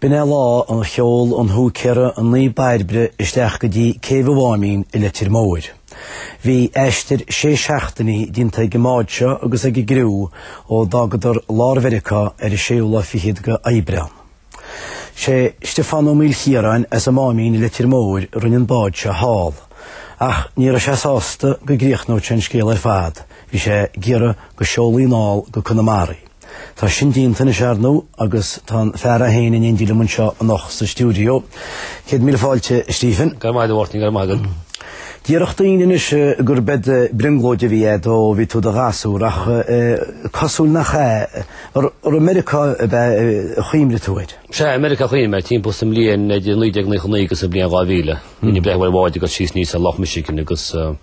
B'in é lá ar sheol an húicéara an Naomh Bairbre isteach go dtí céibh an Mháimín i Leitir Móir. Bhí aistear sé seachtainí déanta ag an mbád seo agus ag an gcriú ó d'fhágadar lár Mheiriceá ar an séú lá fichead d'Aibreán. Sé Stiofán Ó Maoilchiaráin as an Máimín i Leitir Móir a rinne an bád seo thall. Ach ní raibh sé sásta go gcríochnódh sé an scéal ar fad, bhí sé ag iarraidh go seolfaí anall go Conamara í. Tá sin déanta anois arnú agus tá an fear é féin in éindí liom anseo anocht sa stiúideo. Céad míle fáilte, Stephen. Go raibh maith agat, a Mháirtín, go raibh maith agat. Déarfadh daoine anois gur bead brionglóid é a bhí agat ó bhí tú i do ghasúr ach is cosúil nach ea. Gur i Meiriceá a chuimhnigh tú air? Sea, i Meiriceá a chuimhnigh mé timpeall is an bhliain 1999 agus an bhliain 2000. Bhínn ag breathnú ar bháid ag goil síos aníos ar Loch Michigan agus.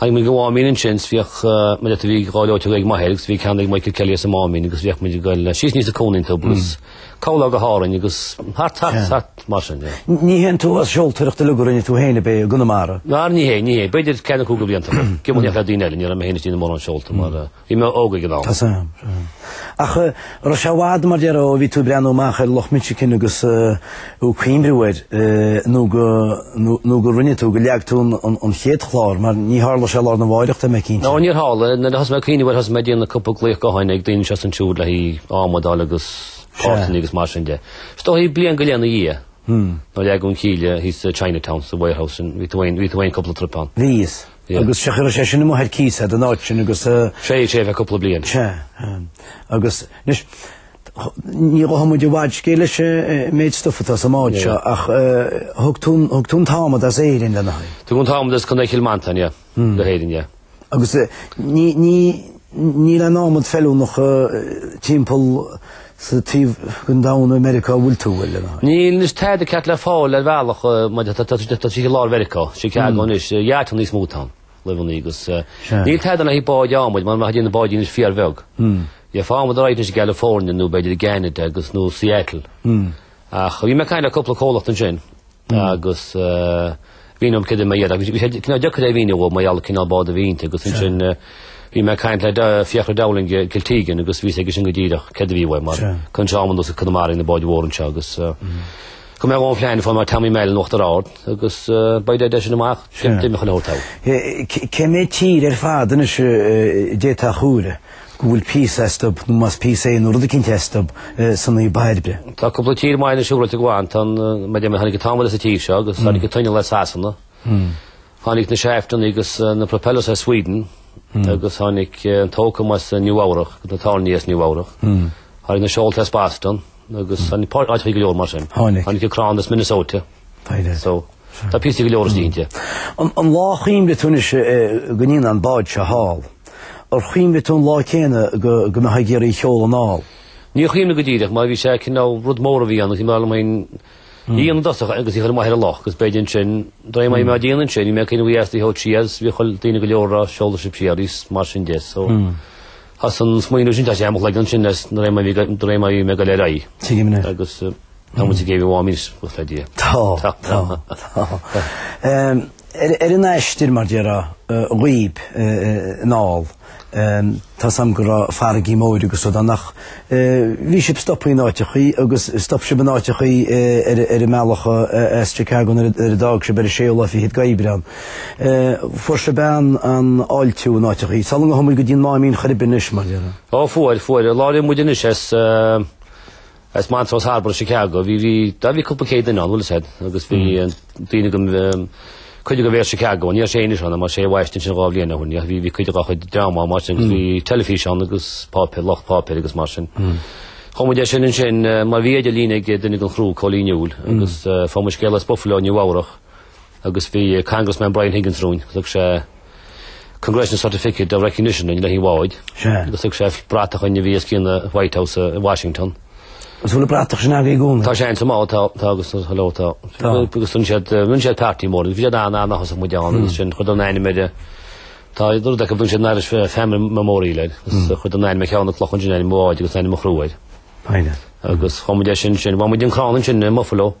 Tháinig muid go Mháimín ansin 's bhíodh muid ata bhí gleoiteog ag m'athair agus bhí ceann ag Michael Kelly as an Máimín agus bhíodh muid ag goil síos aníos an cuan iontu agus corrlá go hÁrainn agus thart thart thart mar sin é. Ní hé an t-uafás seoltóireachta uilig a rinne tú féin ab é i gConamara? Ná ní hé, ní hé. B'fhéidir ceathair nó cúig de bhlianta ag giománaíocht le daoine eile, ní raibh mé féin ag déanamh mórán seolta mar Bhí mé óg ag an am. Tá a fhios agam. Ach raibh sé i bhfad, mar a déarfá, ó bhí tú ag breathnú amach ar Loch Michigan agus ag cuimhniú air nó go, nó go rinne tú, go leag tú an chéad chlár, mar níor tharla sé lá arna mháireach, tá mé cinnte. Ná, níor tharla. Nuair a thosaigh mé ag cuimhniú air thosaigh mé ag déanamh cúpla glaoch gutháin ag daoine anseo is ansiúd le haghaidh adhmad a fháil agus páirteanna agus mar sin de. Is dóichí bliain go leith ina dhiaidh, nuair a leagadh an cíle thíos sa Chinatown, sa warehouse sin, bhí tú féin, bhí tú féin cúpla troip ann. Bhíos. Agus féach, chaith sé sin a bheith ar cíos agat, an áit sin agus. Bhí sé le haghaidh cúpla bliain. Sea. Agus, anois, ní ghabhfaidh muid i bhfad scéil leis an méid stuif atá sa mbád seo ach thug tú an t-adhmad as Éirinn lena aghaidh. Tugadh an t-adhmad as Contae Chill Mhantáin, yeah, in Éirinn, yeah. Agus níl aon adhmad feiliúnach timpeall. sa taobh den domhan i Meiriceá a bhfuil tú, an bhfuil, lena aghaidh. Níl anois tada ceart le fáil ar bhealach mar tá a fhios agat tríd lár Mheiriceá, Chicago anois, yachtanna níos mó atá ann, luamhanna agus. Níl tada ann le haghaidh báid adhmaid mara mbeifeá ag déanamh báid anois fíorbheag. Gheofá adhmad all right anois i gCalifornia nó b'fhéidir i gCeanada agus nó Seattle. Ach bhí mé ag caint le cúpla comhlacht ansin agus mhínigh mé dóibh céard a bhí mé a iarraidh. Bhí sé cineál deacair é a mhíniú dóibh mar gheall ar an gcineál bád a bhí inti agus ansin bhí mé ag caint le Fiachra Dowling i Kiltegan agus bhí a fhios aige sin go díreach céard a bhí uaim mar chuireann sé adhmad anuas go Conamara ag na báid mhóra anseo agus Go mbeadh ón phlean fáil mar Tommy Mallon in Uachtar Ard agus uaidh sin amach d'imigh chuile shórt. Cé mhéad tír ar fad anois i dté atá a chúire? go bhfuil píosa astub, nó más píosa é nó rud eicínt astub, sa Naomh Bairbre. Tá cúpla tír maith ann siúráilte i gclann. Tá an em, em, tháinig an t-adhmad as an tír seo agus tháinig an t-inneall as Sasana. Tháinig na shaftanna agus na Propellers as Sweden agus tháinig an t-ócam as Nua-Eabhrac agus na tairní as Nua-Eabhrac. Tháinig na Seolta as Boston agus tháinig áiteacha go leor mar sin. Tháinig. Tháinig an Crann as Minnesota. Baineadh. So, tá píosaí go leor istigh inti. An lá a chuimhnigh tú anois go ndéanfá an bád seo thall, ar chuimhnigh tú an lá céanna go mbeifeá ag iarraidh í a sheoladh anall? Níor chuimhnigh mé go díreach, mar bhí sé cineál rud mór a bhí ann agus b'fhearr liom féin í a dhéanamh i dtosach agus í a chur amach ar an loch agus b'fhéidir ansin, de réir mar a bhí mé á déanamh ansin, bhí mé ag cuimhneamh faoi astaí thó trí as bhí chuile daoine go leor á seoladh sibh siar thíos, mar sin de. So, as an smaoineamh sin tháinig sé i mo chloigeann ansin is de réir mar a bhí mé ag goil de réir mar a bhí mé ag goil ar aghaidh. Tuigim, yeah. Agus. Tá muid ag céibh an Mháimín, buíochas le Dia. Tá, tá, tá. Ar an aistear, mar a déarfá, dhaoib, anall, tá a fhios agam go raibh farraigí móra agus rud ann ach bhí sibh stoptha in áiteachaí agus stop sibh in áiteachaí ar an mbealach as Chicago nuair a d'fhág sibh ar an séú lá fichead d'Aibreán. Fuair sibh an-fháiltiú in áiteachaí. Sular tháinig muid go dtí an Máimín ar chor ar bith anois, mar a déarfá. Ó, fuair, fuair. An lá ar imigh muid anois as, As Montrose Harbour, Chicago, bhí, bhí, ó bhí cúpla céad duine ann, bhfuil a fhios agat, agus bhí an daoine go, um, cuid de Mayor Chicago ann, ní raibh sé anois ann, mar sé a bhaist í sin dhá bhliain ó shin, yeah, bhí, bhí cuid dhá chuid dream ann mar sin, agus bhí teilifís ann agus páipéar, lucht páipéir agus mar sin. Chomh maith leis sin ansin, eh, mar bhí idirlíon ag duine den chriú, Cóilín Newell, agus, eh, fuair muid scéal as Buffalo, Nua-Eabhrac, agus bhí Congressman Brian Higgins romhainn agus thug sé Congressional Certificate of Recognition dhúinn le haghaidh an bháid. Sea. Agus thug sé bratach dhúinn a bhí os cionn an White House uh, in Washington. Agus bhfuil an bhratach sin agaibh i gcónaí? Tá sé sa mbád tá agus hello tá. Agus sun siad uh, rinne siad party mór, bhí siad an an achas muid an ansin chuir siad ainm an bháid. Tá dur de go bun siad an Irish Famine Memorial agus chuir siad an ainm ar cheann de na clocha ansin, ainm an bháid agus ainm an chriú. Baineann. Agus chomh maith leis sin, sin, bhain muid an crann ansin i mBuffalo,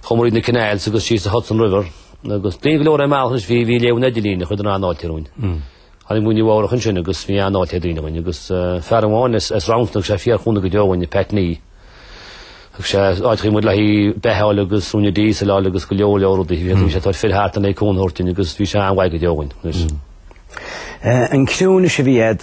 chuaigh muid na canals agus síos an Hudson River, agus daoine go leor ar an mbealach anois, bhí, bhí ag léamh an idirlín a chuir an-fháilte romhainn. Tháinig muid i Nua-Eabhrac ansin agus bhí an-fháilte ag daoine romhainn, agus fear amháin as, as Roundstone, thug sé fíorchúnamh go deo dhúinn, Pat Nee, thug sé áiteachaí muid le haghaidh beatha a fháil agus uaine díosal a fháil agus go leor, leor rudaí, bhí, bhí sé ag tabhairt fir thart le haghaidh cúnamh a thabhairt dúinn agus bhí sé an-mhaith go deo dhúinn, anois. An criú anois a bhí agat,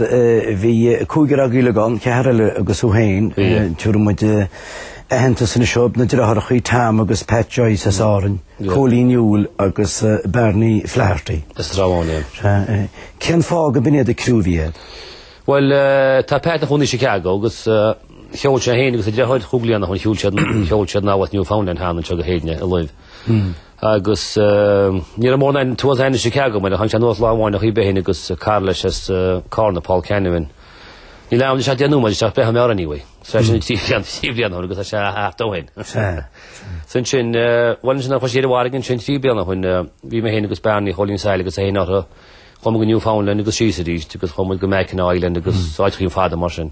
bhí cúigear agaibh uilig ann, ceathrar eile agus thú féin, tabharfaidh muid aitheantas anois dóibh, na deartháireachaí Tom agus Pat Joyce as Árainn, Cóilín Newell agus Barney Flaherty as Ráth Chairn. Sea. Cén fáth gurb in iad an criú a bhí agat? Bhuel, tá Pat ina chónaí i Chicago agus sheol sé féin agus a deartháir chúig bliana ó shin, sheol siad anall as Newfoundland cheana anseo go hÉirinn i Laimh. agus ní raibh mór an tuath ainnise aici agam, ar a chan sé anuas lá amháin a chaoi beithín agus cara leis as Carna, Paul Canavan. Níl ann isteach déanamh muid, isteach beith an mheabhraigh anyway. So é sin trí bhlian, trí bhlian ó shoin agus tá sé thart ó shoin. So ansin, bhuel ansin chuir sé ar an bhfarraige ansin trí bliana ó shoin, bhí mé féin agus Bearnaí Chóilín Saill agus é féin uirthi, chuaigh muid go Newfoundland agus síos arís agus chuaigh muid go Mackinaw Island agus áiteachaí fada mar sin.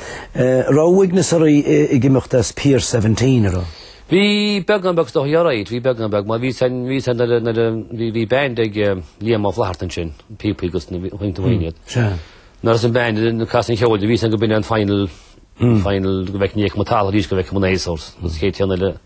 raibh uaigneas oraibh ag imeacht as Pier 17 ar an. Bhí beagán beag dó, a Ghearóid, bhí beagán beag, mar bhí a fhios a'm, bhí a fhios a'm nuair a, nuair a, bhí, bhí band ag Liam Ó Flatharta ansin, píopaí agus na bhfuinneog na bhfuinneog iad. Sea. Nuair a bhí an band ag casadh an cheoil do bhí a fhios a'm go b'in é an final, final go bhfeiceann ní fheicfidh muid talamh arís go bhfeicfidh muid na Azores, agus cé téann eile.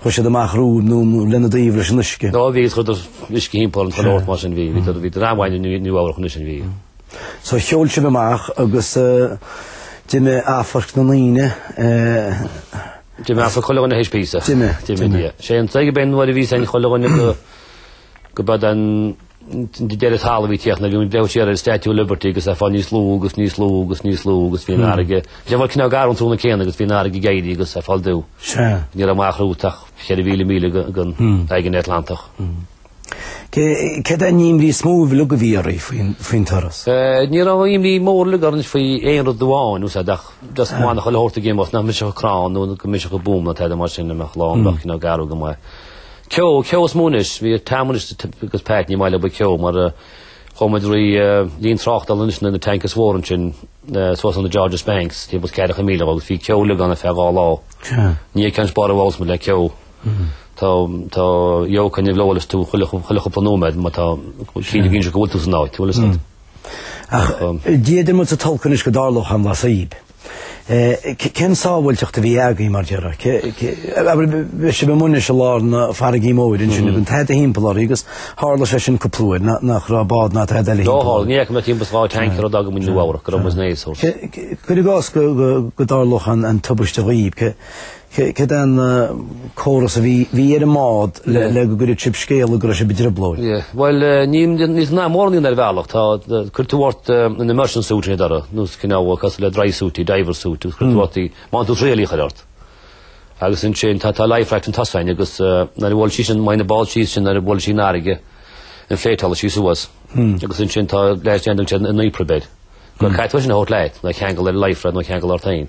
Chuir siad amach rud nó lena dtaobh leis an uisce. Ó bhí siad ag cur uisce thimpeall chuile áit mar sin bhí. Bhí dream an bhaile i Nua-Eabhrac ansin, bhí. So sheol sibh amach agus d'imigh amharc na ndaoine. D'imigh amharc chuile dhuine théis píosa. D'imigh. D'imigh, yeah. Sé an t-aige beinn nuair a bhí a fhios ag chuile dhuine go. go mb'in é an deireadh talamh a bhí ag tíocht nuair a bhí, breathnú siar ar an Statue of Liberty agus í ag fáil níos lú agus níos lú agus níos lú agus bhí an fharraige, bhí sé cineál garbh an tráthnóna céanna agus bhí an fharraige ag éirí agus ag fáil dubh. Ní raibh amach romhat ach cheithre mhíle míle den aigéan Atlantach. Cén imní is mó a bhí agaibh dáiríre faoin turas? Ní raibh aon imní mhór uilig orainn faoi aon rud amháin, tá a fhios a'd, ach just go mbeadh chuile shórt a gcéim ort, nach mbrisfeadh an crann nó go mbrisfeadh an búm nó tada mar sin dá mbeadh lá ann, a bheadh cineál garbh go maith. Ceo, ceo is mó anois. Bhí Tom anois agus Pat ní maith leo bheith i gceo mar chuaigh muid thrí líne tráchtála anois na tankers mhóra ansin suas ar an Georges Banks taobh amuigh 40 míle agus bhí ceo uilig ann ar feadh dhá lá. Ní fhaigheann spar a bhfoghlaim muid le ceo. Tá, tá jóc an nimhleabhair is tú chuile, chuile chupla nóiméad má tá, cinn a bhíonn sé go bhfuil tú san áit, bhfuil a fhios a'd? Ach, d'fhéadfadh muid a tolcadh anois go dtarlódh an lasaíb. Cén tsábháilteacht a bhí agaibh, mar dáiríre bhí sibh amuigh ansin i lár na farraige móire ansin, gan tada thimpeall oraibh agus tharla sé sin cúpla uair, nach raibh bád ná tada eile thimpeall oraibh. Ní fhaca mé ach timpeall dhá tanker ó d'fhág muid Nua-Eabhrac, go raibh muid sna Azores. Cuir i gcás go dtarlódh an tubaiste dhaoibh, Cén córas a bhí ar an mbád le go gcuirfeadh sibh scéala go raibh sibh i dtrioblóid? Bhuel, ní raibh mórán ann ar bhealach. Tá, cuireann tú ort an immersion suit ina dtoradh, nó cineál cosúil le dry suit í, diver suit, agus cuireann tú ort í, baineann tú traíáil í a chur ort. Agus ansin tá life raft an t-asainn agus nuair a bhuailfeas sí sin, má théann an bád síos sin nuair a bhuailfeas sí an fharraige, inflate-álfaidh sí suas, agus ansin tá leithéid de an t-aon duine ag siúl an EPIRB air. Go bhfuil caithfidh tú é sin a thabhairt leat, nó é a cheangal ar an life raft nó é a cheangal ort féin.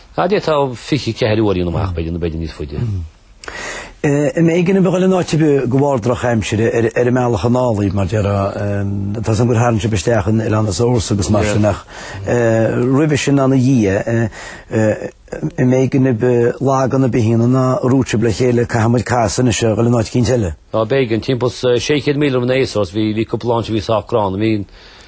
Cad é atá 24 uairín amach, b'fhéidir, nó b'fhéidir níos faide? Ab éigean daoibh a dhul in áit ar bith go bharr drochaimsire ar an mbealach anall, mar a déarfá, tá a fhios agam gur tharraing sibh isteach in oileáin na Azores agus mar sin ach roimhe sin ná ina dhiaidh, ab éigean daoibh lag an a bith aoinne nár dhúirt sibh le chéile, caithfidh muid casadh anois a dhul in áit eicínt eile. B'éigean, timpeall 600 míle roimh na Azores bhí cúpla lá ann a bhí sách gránna. Bhí an.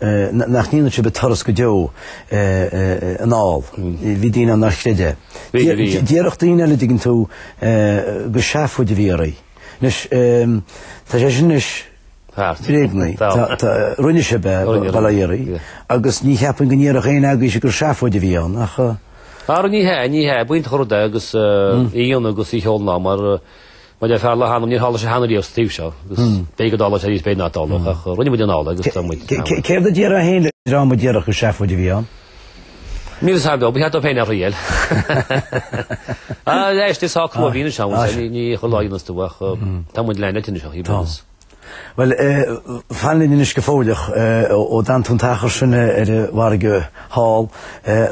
nach ndéanfadh sibh an turas go deo anall. Bhí daoine ann nár chreid é. Déarfadh daoine eile dtuigeann tú gur seafóid a bhí oraibh. Anois, tá sé sin anois bréagnaithe. Rinne sibh é, bail ó Dhia oraibh, agus ní cheapfainn go ndéarfadh éinne agaibhse gur seafóid a bhí ann, ach. Ara, ní hea, ní hea, b'iontach an rud é agus í a dhéanamh agus í a sheoladh anall mar. Mar le fear leath-anam níor tharla sé cheana riamh sa taobh seo, agus b'fhéidir go dtarlódh sé arís, b'fhéidir nach dtarlódh, ach rinne muid anall é agus tá muid ceann uainn. Céard a déarfá féin le dream a déarfadh gur seafóid a bhí ann? Níl fhios agam beo, ba cheart dóibh féin é a thriail. Aye, is tá crua eile anois ann, ní chomh láidir anois tú ach tá muid lean eite anois ach ní bhíonn fhios. Bhuel, fan linn anois go fóilleach ó d'fhan tú an t-achar sin ar an bhfarraige thall,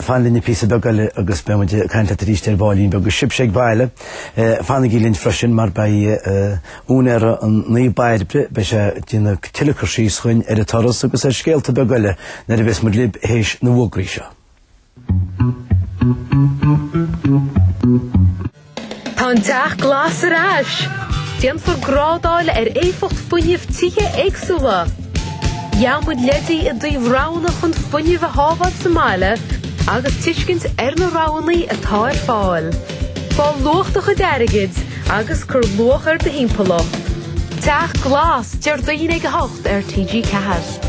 fan linn píosa beag eile agus beidh muid ag caint leat arís ar baillín beag. Agus sibhse ag baile, fanaigí linn freisin mar beidh úinéara an Naomh Bairbre, beidh sé ag déanamh tuilleadh cur síos dhúinn ar an turas agus ar scéalta beaga eile nuair a bheas muid libh théis na bhfógraí seo. Tá an teach glas ar ais! Déanfar grádáil ar éifeacht fuinnimh tithe éagsúla. Gheobhaidh muid leidí i dtaobh roghanna chun fuinneamh a shábháil sa mbaile agus tuiscint ar na roghanna atá ar fáil. Fáil luach do chuid airgid agus cur luach ar do thimpeallacht. Teach Glas, Déardaoin ag a hocht ar TG4.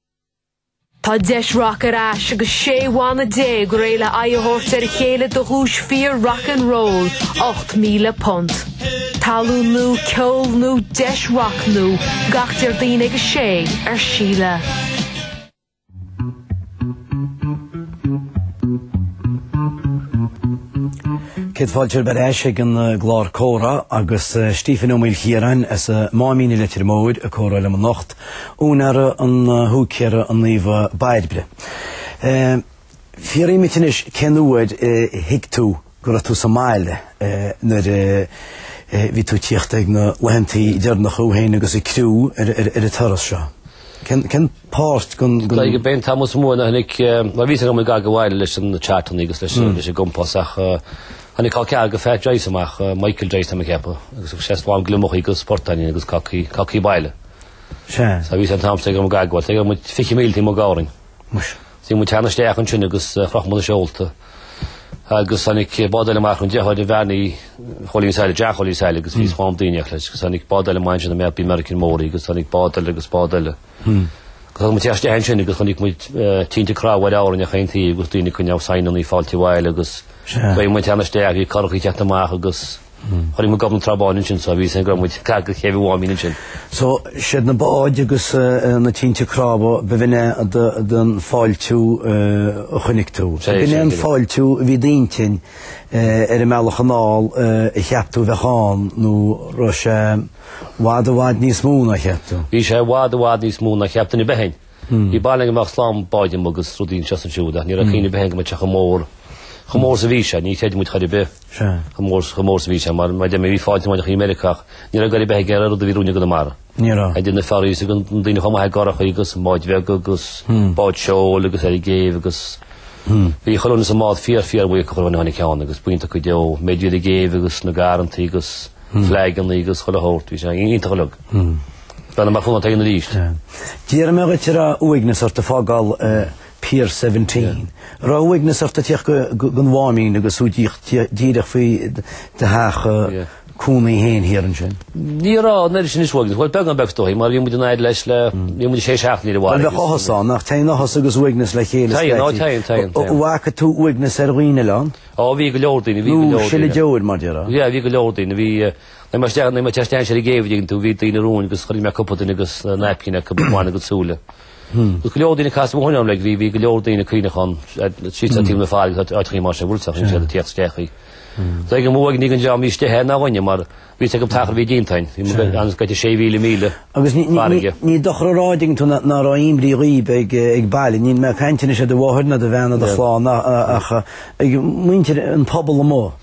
Tá deis rac ar ais agus 16 bhanna réidh le aghaidh a thabhairt ar a chéile do dhuais fíor Rock and Roll £8,000. Tallann nua, ceol nua, deis rac nua gach Déardaoin ag 6 ar Síle. Céad fáilte romhaibh ar ais ag an eh, gclár comhrá agus eh, Stephen Ó Maoilchiaráin as an eh, Máimín i Leitir Móir ag comhrá liom anocht Úinéara an húicéara an Naomha Bairbre. Fiafraím dhíot anois cén uair a thuig tú go raibh tú sa mbaile nuair a bhí tú ag tíocht ag na laethantaí deireanacha thú féin agus an criú ar an turas seo. Cén páirt gan. Glaoigh an Bean Tamall sa Mhumhain a tháinig, mar bhí a fhios agam ag goil abhaile leis na chartannaí agus leis an gcompás ach tháinig col ceathar do Phat Joyce amach, Michael Joyce tá mé ag ceapadh, agus bhí sé lán gliomachaí agus portáinín agus cácaí baile. Sea. Sea, bhíos ar an t-amstar ag ar mo gagfhaill. Go dtí go raibh muid fiche míle taobh amuigh d'Árainn. Thosaigh muid ag teannadh isteach ansin agus chroch muid na seolta agus tháinig bád eile amach ansin deartháir do Bharney Chóilín Sáile, John Chóilín Sáile agus bhí slám daoine amach leis agus tháinig bád eile amach ansin an bád American Mór agus tháinig bád eile agus bád eile. Agus thug muid isteach isteach ansin agus chonaic muid tinte cnámh ar Árainn ar chaon taobh agus daoine ag coinneáil saighneannaí fáilte abhaile agus Sea. Bhí muid ag teannadh isteach, bhí curachaí ag teacht amach agus Chuaigh muid gob na Trá Báine ansin so bhí a fhios againn go raibh muid gar do chéibh an Mháimín ansin. So siad na báid agus na tinte cnámha b'in é an fáiltiú a chonaic tú. Ab in é an fáiltiú a bhí i d'intinn ar an mbealach anall a cheap tú a bheadh ann nó an raibh sé i bhfad i bhfad níos mó ná a cheap tú? Bhí sé i bhfad i bhfad níos mó ná a cheap duine ar bith againn. Bhí barúil againn go mbeadh slám báid amuigh agus rudaí anseo is ansiúd ach ní raibh cuimhne ar bith againn go mbeadh sé chomh mór chomh mór is a bhí sé. Níor chreid muid chor ar bith chomh mór is a bhí sé mar, mar a deir tú, bhí fáilte mhaith amuigh i Meiriceá ach ní raibh goir ar bith aige ar an rud a bhí romhainn i gConamara. Ní raibh. Idir na ferries agus daoine ag tíocht amach i gcurachaí agus báid bheaga agus báid seoil agus ar an gcéibh agus bhí chuile dhuine sa mbád fíor fíor bhuíoch de chuile dhuine a tháinig ann agus buíoch dóibh go deo, an méid a bhí ar an gcéibh agus na garrantaí agus fleaigeanna agus chuile shórt, bhí sé iontach uilig. Deineadh mar chúnant éigin arís. D'iarr mé dhíot an raibh uaigneas ort ag fágáil Pier 17. An raibh uaigneas ort ag tíocht don Mháimín agus ag tíocht díreach faoi do theach cónaí féin thiar ansin. Ní raibh an oiread sin uaigneas. Bhuel, beagán beag is dóigh mar bhí muid in airí leis le, bhí muid sé seachtainí ó bhaile. Bhuel, bheadh áthas ann ach téann áthas agus uaigneas le chéile scaití. Téann, á téann, téann, téann. An bhfaca tú uaigneas ar dhaoine a lán? Á, bhí go leor daoine, bhí go leor daoine. Ag sileadh deor mar a déarfá. Bhí, bhí go leor daoine. Bhí, Tháinig muid istea, tháinig muid isteach ansin ag an gcéibh, an dtuigeann tú, bhí daoine romhainn agus chonaic mé cúpla duine agus naipcín acu ag cuimilt a gcuid súile. Agus go leor daoine a casadh ó shin orm like bhí bhí go leor daoine ag caoineachán tríd an taobh na haille agus áiteachaí mar sin nuair a chonaic siad ag tíocht isteach í. Tá ag an mbuaidh ní gan dream níos deithe ná dhuine mar bhí a fhios acu an t-achar a bhí díonta againn, bhí muid anois gaite sé mhíle míle Agus ní, ní, ní, farraige. ní dochar a rá an dtuigeann tú ná, ná raibh aon imní dhaoib ag, eh, ag baile, níl mé ag caint anois ar do mháthair ná do bhean ná do Yeah. chlann a- a- ach eh, ag muintir an phobail amuigh.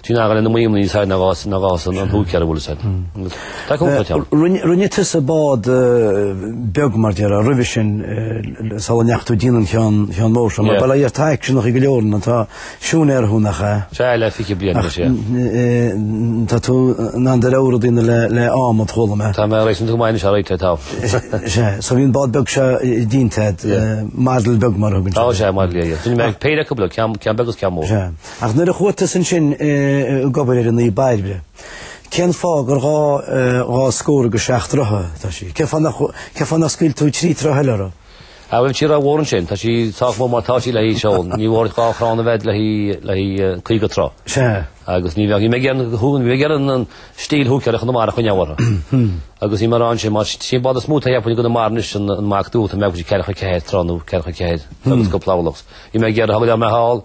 Sin eagar lena maíomh níos fearr ná dhá ná dhá san an húicéar a bhfuil is air. Tá cúpla ceann. Rinne rinne tusa bád beag, mar a déarfá, roimhe sin sula ndeachaigh tú ag déanamh an cheann cheann mór seo. Mar ba le iarrtha aicseanach í go leor na. Siúinéara thú, nach ea? Sea, le fiche bliain anois, ea. Ach tá tú in ann do rogha rud a dhéanamh le le adhmad, chuala mé. Tá mé réasúnta maith anois, alright, tá. Sea, so bhí an bád beag seo díonta, model beag mar a thugann siad. Ó sea, model, yeah, yeah. Rinne mé péire acu, ceann ceann beag agus ceann mór. Sea. Ach nuair a chuaigh tusa ansin ag obair ar an Naomh Bairbre, cén fáth gur dhá scór agus seacht troithe atá sí? Cén fáth nach, cén fáth nár scaoil tú trí troithe eile uirthi? Á bheadh sí rómhór ansin, tá sí sách mór mar tá sí le haghaidh seoladh, níor mhór duit dhá chrann a bheith le haghaidh, le haghaidh caoga troigh. Sea. Agus ní bheadh, ní bheadh aon shú, ní bheadh aon an stíl húicéara Chonamara a choinneáil uirthi. Agus ní mórán sin, más sin bád is mó atá thiar i gConamara anois an Mac Duach, an mbeadh sí ceathracha ceathair troigh nó ceathracha ceathair agus cúpla orlach. Bhí mé ag iarraidh a thug liom mé thall,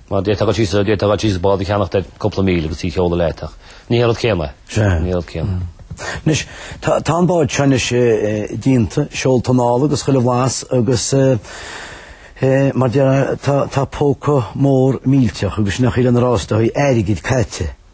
Mar d'fhéadfadh tusa, d'fhéadfadh tusa bád a cheannacht ar chúpla míle agus í a sheoladh leat, ach ní hé an rud céanna é. Sea. Ní hé an rud céanna. Anois, tá an bád seo anois déanta, seolta anall agus chuile bhlas agus, mar a déarfá, tá póca mór millteach agus sin an chaoi lena fhreastóidh airgid caite.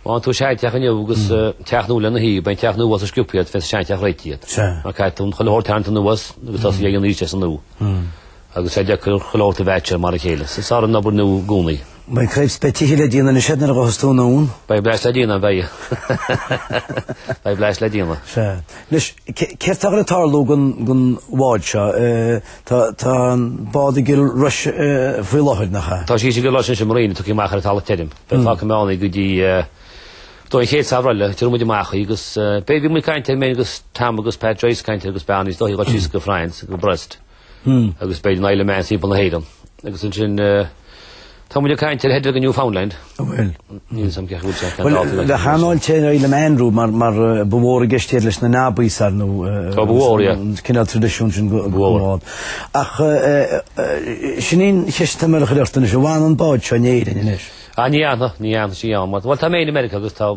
Má tú seanteach inniu agus teach nua lena thaobh, beidh an teach nua suas chomh sciobtha agat leis an seanteach réitithe agat. Mar caithfidh tú chuile shórt a tharraingt anuas agus tosaí aríst as an nua agus tá sé deacair chuile shórt a mheaitseáil lena chéile, is fearr an obair nua i gcónaí. Beidh craobh spe tithe le déanamh anois agat nuair a ghabhfas tú anonn. Beidh blas le déanamh, beidh. Beidh blas le déanamh. Sea. Anois, céard atá le tarlú don bhád seo? Tá an bád i gCill Rois faoi láthair, nach ea? Tá sí i gCill Rois anois i marina, tógtha amach ar an talamh tirim. Beidh fágfaidh mé ann go dtí an chéad samhradh eile, tabharfaidh muid amach í agus beidh, bhí muid ag caint air mé agus Tom agus Pat Joyce ag caint agus beidh ann níos dóichí dul síos go France, go Brest agus beidh an Isle of Man timpeall na hÉireann. Agus ansin tá muid ag caint ar headáil go Newfoundland. Ó bhuel. Níl a fhios agam ceart go bhfuil sé ceann d'áit eile. Bheadh an-fháilte ar an Isle of Man romhat mar ba mhór i gceist iad leis na Nobbies, ar ndóigh cineál traidisiún sin go. Ach sin í an cheist atá mé a chur ort anois, an bhfanfaidh an bád seo in Éirinn anois? Á, ní fhanfaidh, ní fhanfaidh sí ann. Bhuel, tá mé in America agus tá,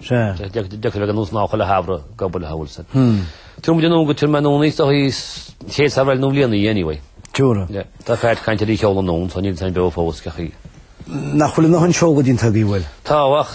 d'fheicfidh mé go nós ná chuile shamhradh go buile thall san. Tabharfaidh muid anonn go Tir Meanna anois, do shuí chéad samhradh eile nó bhliain í anyway. Jura. Yeah. Tá fear ag caint ar í a sheoladh anonn so níl a fhios agam beo fós, cén chaoi. Nach bhfuil bhur ndóthain seoladh déanta agaibh, bhuel? Tá, ach.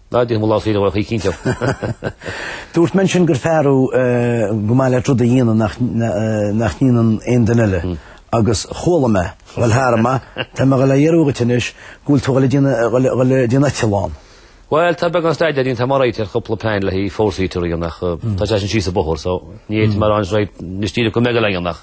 Ná déan mo lámh saoire mhar chuig cinnteacht. Dúirt mé ansin gur fear thú gur maith leat rud a dhéanamh nach ndéanann aon duine eile. Agus chuala mé, bhuel thar am, tá mé ag dul a fhiafraí dhíot anois, go bhfuil tú ag dul ag déanamh eitleán. Bhuel, tá beagán staidéir déanta agam air, tá cúpla plean le haghaidh four-seater í ach tá sé sin síos an bóthar so ní fhéadfaidh mé a rá anois right, anois díreach go mbeidh a leithéid ann ach.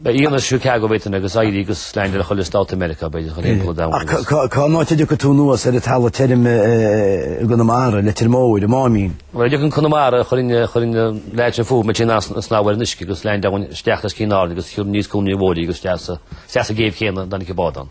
Beidh iontas Chicago Britain agus éirí agus landáil i chuile stát in America, b'fhéidir, a dhul timpeall an domhain agus. Cén áit a dtiocfaidh tú anuas ar an talamh tirim i gConamara, i Leitir Móir, i Máimín? Nuair a thiocfaidh mé go Conamara chun an leaid sin fúthu, beidh sé in ann snámh ar an uisce agus landáil ann isteach os cionn Árainn agus aníos Cuan an Fhir Mhóir agus isteach sa gcéibh chéanna dá dtiocfadh bád ann.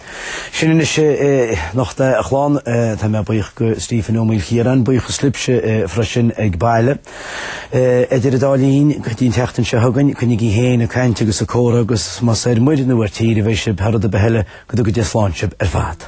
Sin anois é anocht a chlann. Tá mé buíoch de Stephen Ó Maoilchiaráin, buíochas libhse freisin ag baile. Idir an dá linn, go dtí an tseachtain seo chugainn, coinnígí féin ag caint agus ag comhrá agus más ar muir nó ar tír a bheidh sibh, thar rud ar bith eile, go dtuga Dia slán sibh ar fad.